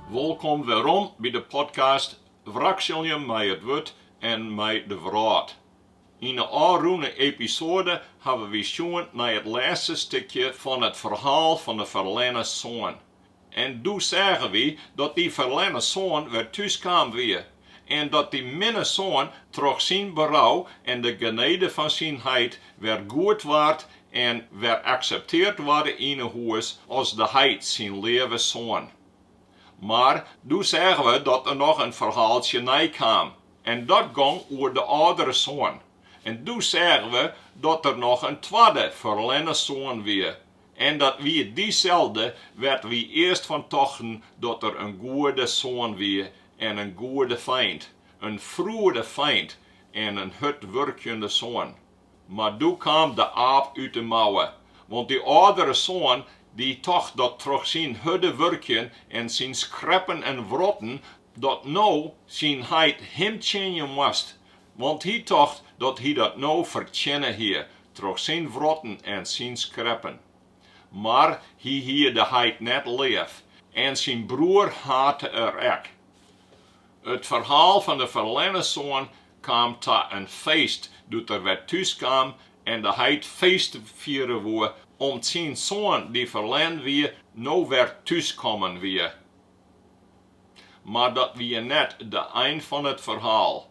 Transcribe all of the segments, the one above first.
Wolkom werom by de podcast Wrakselje mei it wurd en mei de wrâld. Yn 'e ôfrûne episoade hawwe wy sjoen nei it lêste stikje fan it ferhaal fan 'e ferlerne soan. En doe seagen wy dat dy ferlerne soan wer thús kaam wie, en dat dy minne soan troch syn berou en de genede fan syn heit wer goed waard en wer akseptearre waard yn 'e hûs as de heit syn leave soan. Mar doe seagen we dat der noch in ferhaaltsje nei kaam, En dat gong oer de âldere soan. En doe seagen we dat der noch in twadde ferlerne soan wie. En dat wie dyselde wêr't wy earst fan tochten dat er in goede soan wie en in goede feint, in froede feint en in hurdwurkjende soan. Mar doe kaam de aap út de mouwe, want dy âldere soan die tocht dat troch syn hurde wurkjen en syn skreppen en wrotten, dat no syn heit him tsjinje moast, want hy tocht dat hy dat no fertsjinne hie troch syn wrotten en syn skreppen. Mar hy hie de heit net leaf en syn broer hate er ek. It ferhaal fan de ferlerne soan kaam ta in feest doe't er wer thús kaam en de heit feest fiere woe, om't syn soan dy't ferlern wie no wer thús kommen wie. Mar dat wie net de ein fan it ferhaal.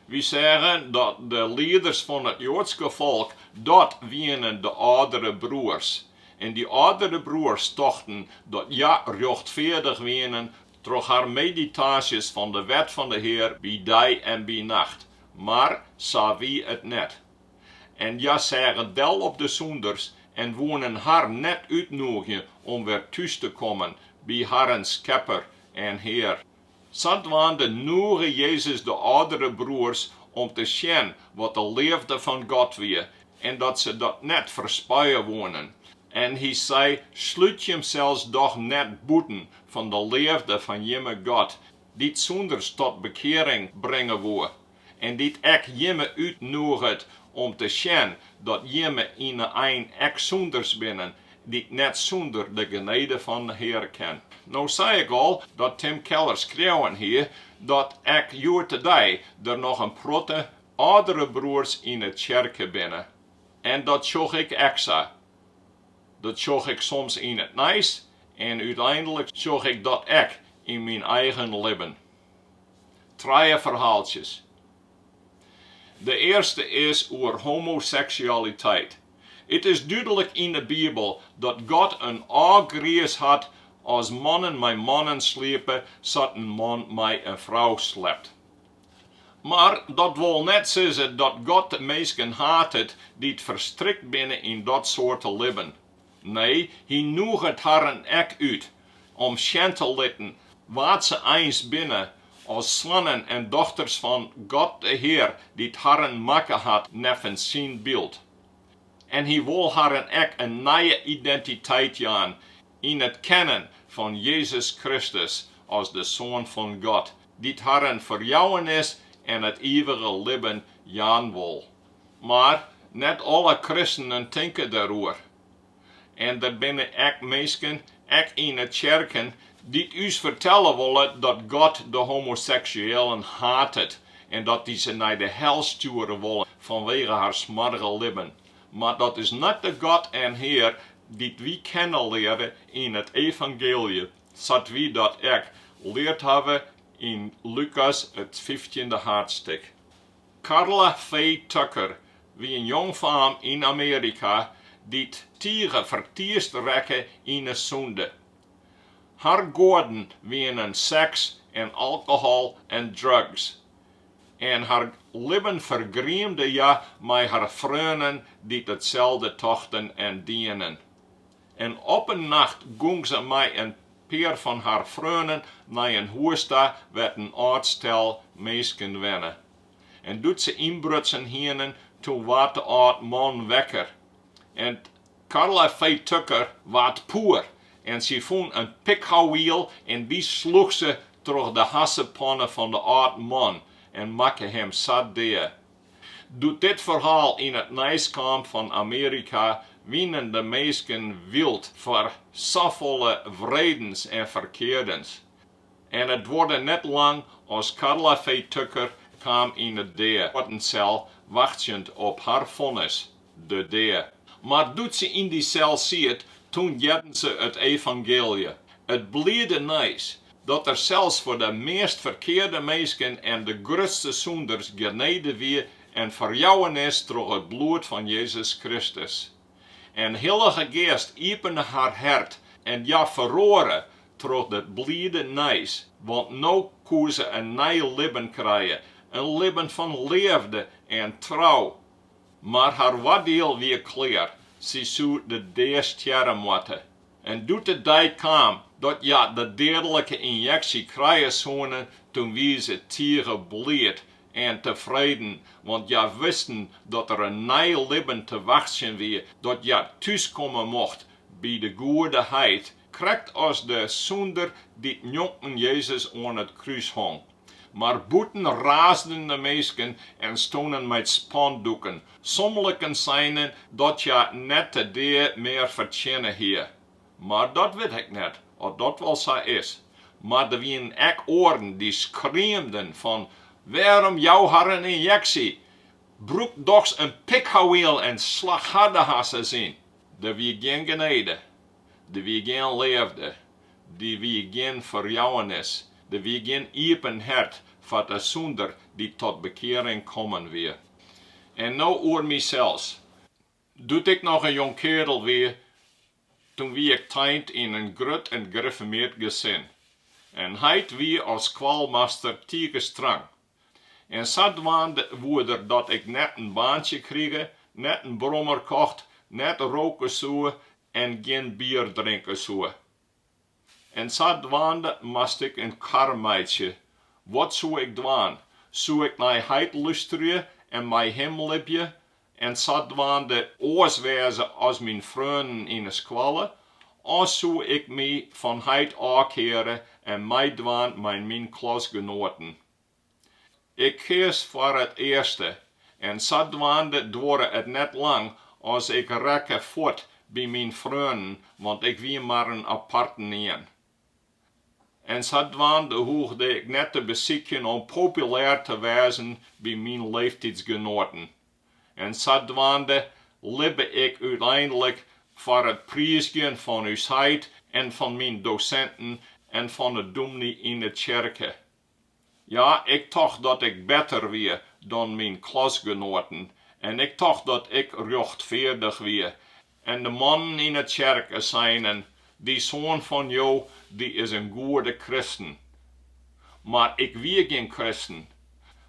Wy seagen dat de lieders fan it Joadske folk, dat wienen de âldere broers. En dy âldere broers tochten dat hja rjochtfeardich wienen Troch har meditaasjes fan de wet fan de Hear by dei en by nacht, mar sa wie it net. En hja seagen del op de sûnders en woenen har net útnûgjen om wer thús te kommen by harren Skepper en Hear. Sadwaande nûge Jezus de âldere broers om te sjen wat de leafde fan God wie en dat se dat net ferspije woenen. En hy sei, Slút jimsels doch net bûten fan de leafde fan jimme God, dy't sûnders tot bekearing bringe woe, en dy't ek jimme útnûget om te sjen dat jimme yn 'e ein ek sûnders binne, dy't net sûnder de genede fan 'e Hear kin. No sei ik al dat Tim Keller skreaun hie dat ek hjoed-de-dei der noch in protte âldere broers yn 'e tsjerke binne. En dat sjoch ik ek sa. Dat sjoch ik soms yn it nijs en úteinlik sjoch ik dat ek yn myn eigen libben. Trije ferhaaltsjes. De earste is oer homoseksualiteit. It is dúdlik yn 'e Bibel dat God in ôfgriis hat as mannen mei mannen sliepe sa't in man mei in frou slept. Mar dat wol net sizze dat God de minsken hatet dy't ferstrikt binne yn dat soarte libben. Nee, Hy nûget harren ek út om sjen te litten wa't se eins binne as soannen en dochters fan God de Hear dy't harren makke hat neffens Syn byld. En Hy wol harren ek in nije identiteit jaan yn it kennen fan Jezus Kristus as de Soan fan God, dy't harren ferjouwenis en it ivige libben jaan wol. Mar net alle kristenen tinke deroer. En der binne ek minsken, ek yn 'e tsjerken, dy't ús fertelle wolle dat God de homoseksuëlen hatet en dat Hy se nei de hel stjoere wol fanwege har smoarge libben. Mar dat is net de God en Hear dy't wy kenne leare yn it evangeelje, sa't wy dat ek leard hawwe yn Lukas it fyftjinde haadstik. Karla Faye Tucker wie in jongfaam yn Amearika dy't tige fertiisd rekke yn 'e sûnde. Har goaden wienen seks en alkohol en drugs. en har libben fergriemde hja mei har freonen dy't itselde tochten en dienen. En op in nacht gong se mei in pear fan har freonen nei in hûs ta wêr't in âld stel minsken wenne. En doe't se ynbrutsen hienen, toen waard de âld man wekker en 't Karla Faye Tucker waard poer en sy fûn in pikhouwiel en dy sloech se troch de hassepanne fan de âld man en makke him sa dea. Doe't dit ferhaal yn it nijs kaam fan Amearika wienen de minsken wyld foar safolle wreedens en ferkeardens en it duorre net lang as Karla Faye Tucker kaam yn it deadesel wachtsjend op har fonnis. de dea. Mar doe't se yn dy sel siet, toen hearde se it evangeelje, it bliede nijs, dat der sels foar de meast ferkearde minsken en de grutste sûnders genede wie en ferjouwenis troch it bloed fan Jezus Kristus. En Hillige Geast iepene har hert en hja feroare troch dit bliede nijs, want no koe se in nij libben krije, in libben fan leafde en trou. Mar har oardiel wie klear, sy soe de dea stjerre moatte. En doe't de dei kaam dat hja de deadlike ynjeksje krije soene, toen wie se tige bliid en tefreden, want hja wisten dat der in nij libben te wachtsjen wie, dat hja thús komme mocht by de goede heit, krekt as de sûnder dy't njonken Jezus oan it krús hong. Mar bûten raasden de minsken en stoenen mei spandoeken. Somliken seinen dat hja net de dea mear fertsjinne hie. Mar dat wit ik net oft dat wol sa is. Mar der wienen ek oaren dy't skreamden fan, Wêrom jouwe har in ynjeksje? Brûk dochs in pikhouwiel en slach har de harsens yn. Der wie gjin genede. Der wie gjin leafde, der wie gjin ferjouwenis, der wie gjin iepen hert foar de sûnder dy't tot bekearing kommen wie. En no oer mysels. Doe't ik noch in jong keardel wie, toen wie ik teint yn in grut en griffermeard gesin. En heit wie as skoalmaster tige strang. En sadwaande woe der dat ik net in baantsje krige, net in brommer kocht, net roke soe en gjin bier drinke soe. En sadwaande moast ik in kar meitsje. Wat soe ik dwaan? Soe ik nei heit lústerje en mei him libje en sadwaande oars wêze as myn freonen yn 'e skoalle, of soe ik my fan heit ôfkeare en meidwaan mei myn klasgenoaten? Ik keas foar it earste en sadwaande duorre it net lang as ik rekke fuort by myn freonen, want ik wie mar in aparten ien. En sadwaande hoegde ik net te besykjen om populêr te wêzen by myn leeftiidsgenoaten. En sadwaande libbe ik úteinlik foar it priizgjen fan ús heit en fan myn dosinten en fan 'e dûmny yn 'e tsjerke. Ja, ik tocht dat ik better wie dan myn klasgenoaten en ik tocht dat ik rjochtfeardich wie. En de mannen yn 'e tsjerke seinen, Dy soan fan jo, dy is in goede kristen. Mar ik wie gjin kristen,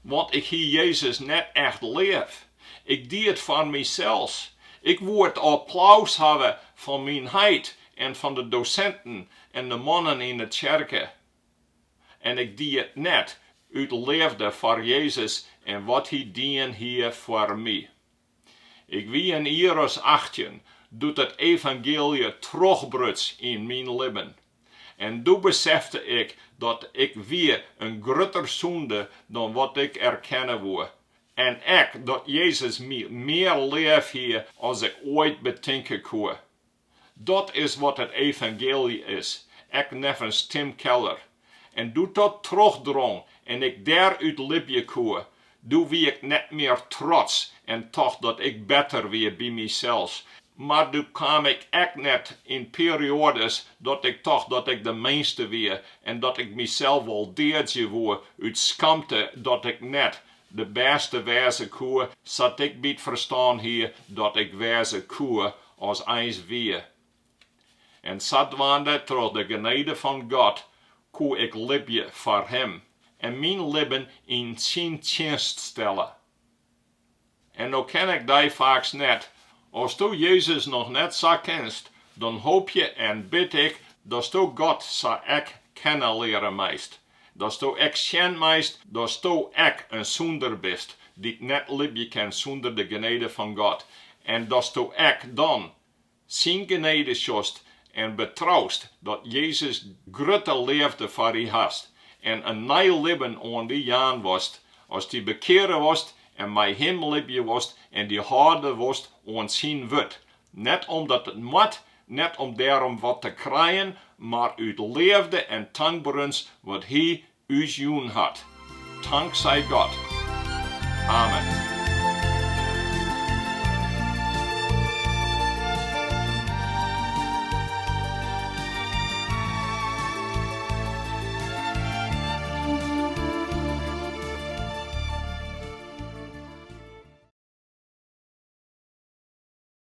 want ik hie Jezus net echt leaf. Ik die it foar mysels. Ik woe it applaus hawwe fan myn heit en fan de dosinten en de mannen yn 'e tsjerke. En ik die it net, út leafde foar Jezus en wat Hy dien hie foar my. Ik wie in jier as achttjin doe't it evangeelje trochrbuts yn myn libben. En doe besefte ik dat ik wie in grutter sûnder dan wat ik erkenne woe. En ek dat Jezus my mear leaf hie as ik oait betinke koe. Dat is wat it evangeelje is, ek neffens Tim Keller. En doe't dat trochdrong en ik dêr út libje koe, doe wie ik net mear trots en tocht dat ik better wie by mysels, mar doe kaam ik ek net yn perioades dat ik tocht dat ik de minste wie en dat ik mysels wol deadzje woe út skamte dat ik net de bêste wêze koe sa't ik by it ferstân hie dat ik wêze koe as eins wie. En sadwaande troch de genede fan God koe ik libje foar Him en myn libben yn Syn tsjinst stelle. En no ken ik dy faaks net. Asto Jezus noch net sa kenst, dan hoopje en bid ik datsto God sa ek kenne leare meist. Datsto ek sjen meist, datsto ek in sûnder bist, dy't net libje kin sûnder de genede fan God, en datsto ek dan Syn genede sjochst en betroust, dat Jezus grutte leafde foar dy hast en in nij libben oan dy jaan wolst, as dy bekeare wolst en mei Him libje wolst en dy hâlde wolst oan Syn wurd, Net omdat it moat, net om dêrom wat te krijen, mar út leafde en tankberens wat Hy ús jûn hat. Tank sy God. Amen.